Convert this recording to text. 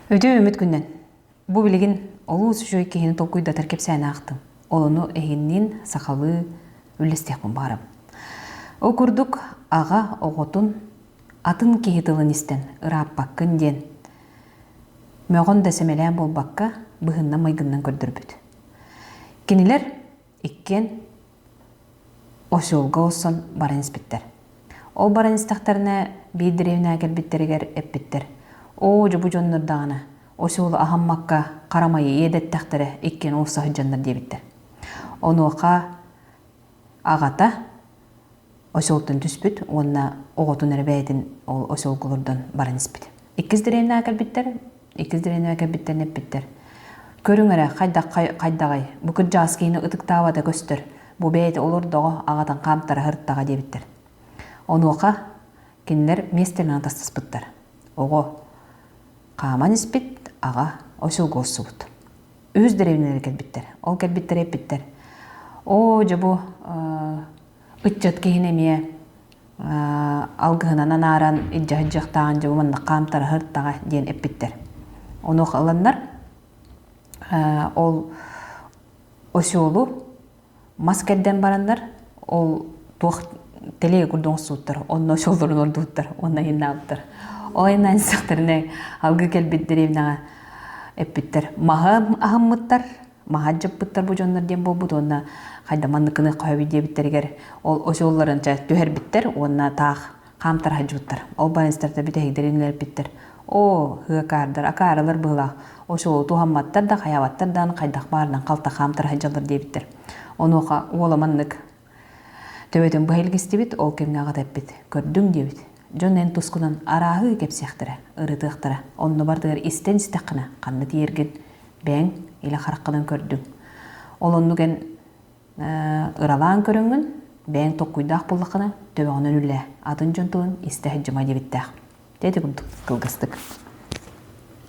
Өйдүөм үмүт күнүнэн. Бу билигин олус үчүгэй киһини толкуйдатар кэпсээнэ аахтым. Олону эһинниин сахалыы үллэстиэхпин баҕарабын. Ол курдук аҕа оҕотун атын киһи тылын истэн ырааппаккын диэн мөҕөн да сэмэлээн буолбакка быһынна-майгыннан көрдөрбүт. Кинилэр иккиэн осьолго осон баран испиттэр. Ол баран истэхтэринэ биир деревняга кэлбиттэригэр эппиттэр. Оо, дьубу дьоннор даҕана осьолу аһаммакка харамайы иэдэттэхтэрэ иккиэн уурса сыдьаннар диэбиттэр. Онуоха аҕата осьолтон түспүт уонна оҕотун эрэ бэйэтин ол осьолго олордон баран испит. Иккис дэриэйнэҕэ кэлбиттэр, иккис дэриэйнэҕэ кэлбиттэр эппиттэр. Көрүҥ эрэ хайдах хайдаҕый, бу кырдьааскыны ытыктаабата көстөр, бу бэйэтэ олордоҕо аҕатын хаамтара сырыттаҕа диэбиттэр. Онуоха кинилэр миэстэлэнэн тастаспыттар. Оҕо хааман испит, аҕа осьолго охсубут. үһүс дэриэбинэлэр кэлбиттэр. Ол кэлбиттэр эппиттэр. Оо, дьэ бу ыччат киһини эмиэ алгыһынан анааран илдьэһдьиэхтээҕин дьэ бу маннык хаамтарыһыртаҕа диэн эппиттэр. Онуоха ыланнар ол осёлу мас кэрдэн бараннар ол туох телеге курдук оҥостубуттар онно шоллорун ордубуттар уонна ыйыннаабыттар ол айаннаан сыстахтарына алгы кэлбит деревняҕа эппиттэр маһы аһыммыттар маһы адьыппыттар бу дьоннор диэн буолбут уонна хайда манныкыны хоһобут диэбиттэригэр ол очолларын түһэрбиттэр уонна таах хаамтархайдьыбыттар. Ол байыстарта бүтэһигдэрин үлэлпиттэр. Оо, хыакаардар, акаарылар быһылаах. Очолу туһамматтар да, хайаабаттар да хайдах баарынан халта хаамтархайдьаллар диэбиттэр. Онуоха уола маннык төбөтүн быһа илгистибит, ол кэмҥэ аҕата эппит, көрдүҥ диэбит. Дьон эн тускунан арааһыы кэпсиэхтэрэ, ырытыахтара. Онно бартыгар истэн истэххинэ, ханна тиийэргин, бэйэҥ илэ хараххынан көрдүҥ. Ол оннук эн Ыралаан көрөҥҥүн, бэйэҥ токкуйдаах буоллаххына, төбөҕүнэн үллээ, атын дьон тылын истэ сылдьыма диэбиттээх. Дьэ ити курдук кылгастык.